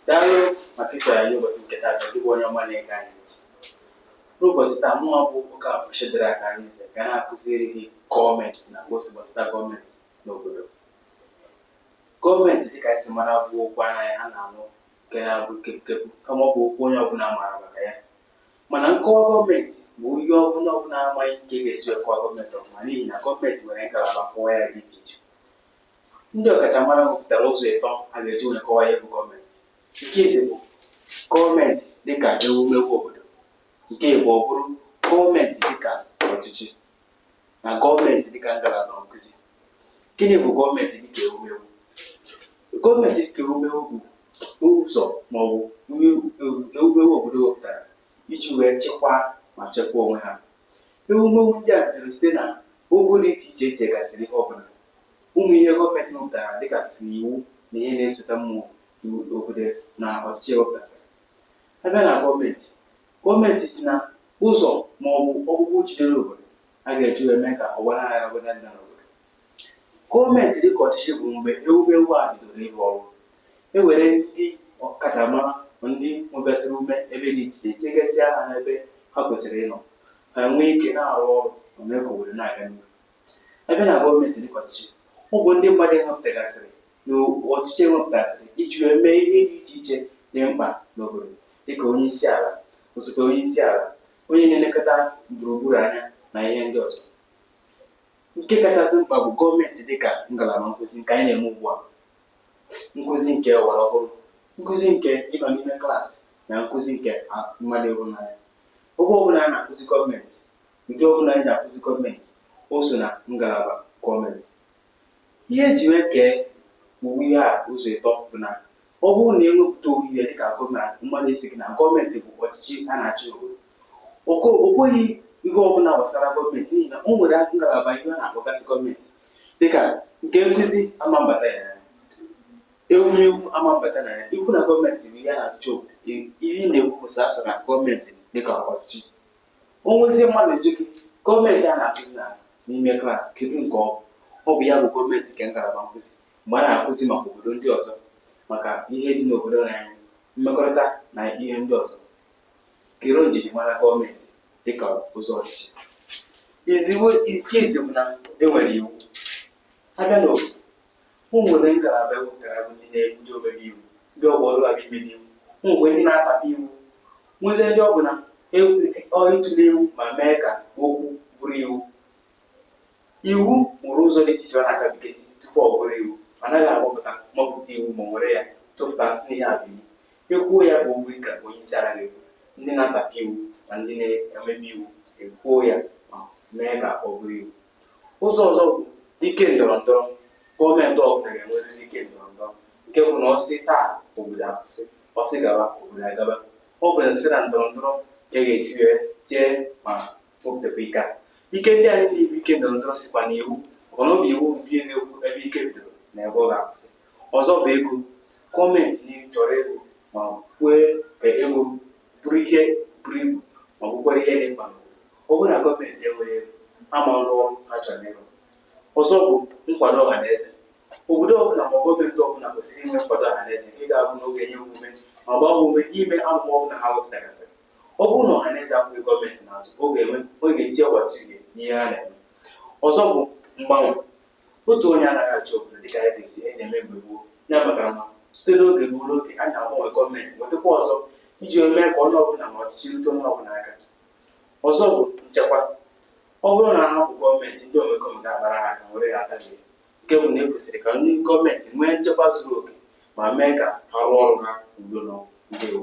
daalụ maka isoro anyị ụbọchị nke taa gị bụ onye ọma na-ege anyị ntị n'ụbọchị taa mụnwa bụ okafor shedrack arinze ga na-akụziri gị gọọmenti na ka o si gbasata gọọmenti n'obodo gọọmenti dịka anyị si mara bụ okwu anaghị a na-anụ nke na-abụ kepụkepụ kama ọ bụ okwu onye ọbụla maara maka ya mana nkọwa gọọmenti bụ ihe onye ọbụla amaghị nke ga-esi akọwa gọọmenti ọfụma n'ihi na gọọmenti nwere ngalaba nkọwa ya dị iche iche Ndị ọkachamara wepụtara ụzọ ịtọ a ga-eji wee kọwaa ihe bụ gọọmenti. Nke izizi bụ gọọmenti dịka ewumewu obodo. Nke ịbụọ bụrụ gọọmenti dịka ọchịchị na gọọmenti dịka ngalaba nkụzi. Gịnị bụ gọọmenti dịka ewumewu? Gọọmenti dịka ewumewu bụ ụzọ maọbụ ewumewu obodo wepụtara iji wee chịkwaa ma chekwaa onwe ha. Ewumewu ndị a bidoro site na ogo dị iche iche e tinyegasịrị ihe ọbụla Ụmụ ihe gọọmenti wepụtara dịgasịrị iwu na ihe na-esota mmụọ iwu obodo na ọchịchị ewepụtasịrị. A bịa na gọọmenti, gọọmenti si na ụzọ ma ọ bụ ọkpụkpụ jidere obodo a ga-eji wee mee ka ọgbanaghara ọbụla adịna n'obodo. Gọọmenti dịka ọchịchị bụ mgbe ewumewu a bidoro ịrụ ọrụ. E were ndị ọkachamara ma ndị nwegasịrị ume ebe dị iche iche tinyegasịa ha n'ebe ha kwesịrị ịnọ ka ha nwee ike na-arụ ọrụ ma mee ka obodo na-aga n'ihu. A bịa na gọọmenti dịka ọchịchị, ọ bụ ndị mmadụ e wepụtagasịrị na ọchịchị e wepụtasịrị iji wee mee ihe dị iche iche dị mkpa n'obodo dịka onyeisiala, osote onyeisiala, onye na-elekọta gburugburu anya na ihe ndị ọzọ. Nke kachasị mkpa bụ gọọmenti dịka ngalaba nkụzi nke anyị na-eme ugbu a, nkụzi nke ọgbara ọhụrụ, nkụzi nke ịnọ n'ime klaasị na nkụzi nke mmadụ ịhụ n'anya. Ebe ọbụla a na-akụzi gọọmenti, Nke ọbụla anyị ji akụzi gọọmenti, o so na ngalaba gọọmenti. Ihe e ji wee kee ụmụ ihe a ụzọ ịtọ bụ na ọ bụrụ na e wepụta ụmụ ihe dịka gọọmenti, mmadụ asị gị na gọọmenti bụ ọchịchị a na-achị obodo. O ko- o kwughị ihe ọbụla gbasara gọọmenti n'ihi na o nwere ngalaba ihe a na-akpọgasị gọọmenti dịka nke nkụzi ama mbata ya na ya, ewumewu ama mbata na ya. Ikwu na gọọmenti bụ ihe a na-achịcha obodo, i- ihe ị na-ekwu bụ sọsọ na gọọmenti dịka ọchịchị o nwezie mmadụ ajụ gị gọọmenti a na-akụzi na n'ime klaasị kedu nke ọ bụ ọ bụ ya bụ gọọmenti nke ngalaba nkụzi mgbe a na-akụzi maka obodo ndị ọzọ maka ihe dị n'obodo na anyị mmekọrịta na ihe ndị ọzọ kedu njirimara gọọmenti dịka ụzọ ọchịchị nke izizi bụ na e nwere iwu a bịa n'obodo O nwere ngalaba e wepụtara bụ ndị na-edu ndị omebe iwu, ndị ọ bụ ọrụ ha bụ imebe iwu. O nwekwara ndị na-atapị iwu, nwezie ndị ọ bụ na ọ ịtụle iwu ma mee ka okwu bụrụ iwu. Iwu nwere ụzọ dị iche iche ọ na-agabigasị tupu ọ bụrụ iwu. A naghị agbapụta mapụta iwu ma were ya tụpụta sị na ihe a bụ iwu. E kwuo ya bụ okwu dịka onye isi ala na-ekwu, ndị na-atapị iwu na ndị na-emebe iwu ekwuo ya ma mee ka ọ bụrụ iwu. Ụzọ ọzọ bụ ike ndọrọ ndọrọ. Gọọmenti ọbụla ga-enwerịrị ike ndọrọ ndọrọ nke bụ na ọ sị taa obodo akwụsị, ọ sị gaba obodo agaba. Ọ bụ na site na ndọrọ ndọrọ ka a ga-esi wee jee ma wepụtakwa ike a. Ike ndị a niile bụ ike ndọrọ ndọrọ sikwa n'iwu maka na ọ bụ iwu bụ ihe na-ekwu ebe ike bidoro na ebe ọ ga-akwụsị. Ọzọ bụ ego. Gọọmenti niile chọrọ ego ma kwee ka ego bụrụ ihe buru ibu ma bụkwara ihe dị mkpa Ọ bụrụ na gọọmenti enweghị ego, ha ama arụ ọrụ ha chọrọ ịrụ. Ọzọ bụ nkwado ọhaneze. Obodo ọbụla ma gọọmenti ọbụla kwesịrị inwe nkwado ọhaneze nke ga-abụ na ọ ga-enye omume ma gbaa ha ume ime amụma ọbụla ha wepụtagasịrị. Ọ bụrụ na ọhaneze akwụghị gọọmenti n'azụ, ọ ga-enwe ọ ga-eti ọgbatauhie n'ihe ha na-eme. Ọzọ bụ mgbanwe. Otu onye anaghị achị obodo dịka anyị ga-esi na-eme mgbe gboo. Ya kpatara na site n'oge ruo n'oge, a na-agbanwe gọọmenti, wetakwa ọzọ iji wee mee ka onye ọbụla ma ọchịchị rute onye ọbụla aka. Ọzọ bụ nchekwa. Ọ bụrụ na a hapụ gọọmenti, ndị omekome ga-akpara ha aka were ya ata gị. Nke bụ na e kwesịrị ka ndị gọọmenti nwee nchekwa zuru oke ma mee ka ha rụọ ọrụ ha udo na ndewo.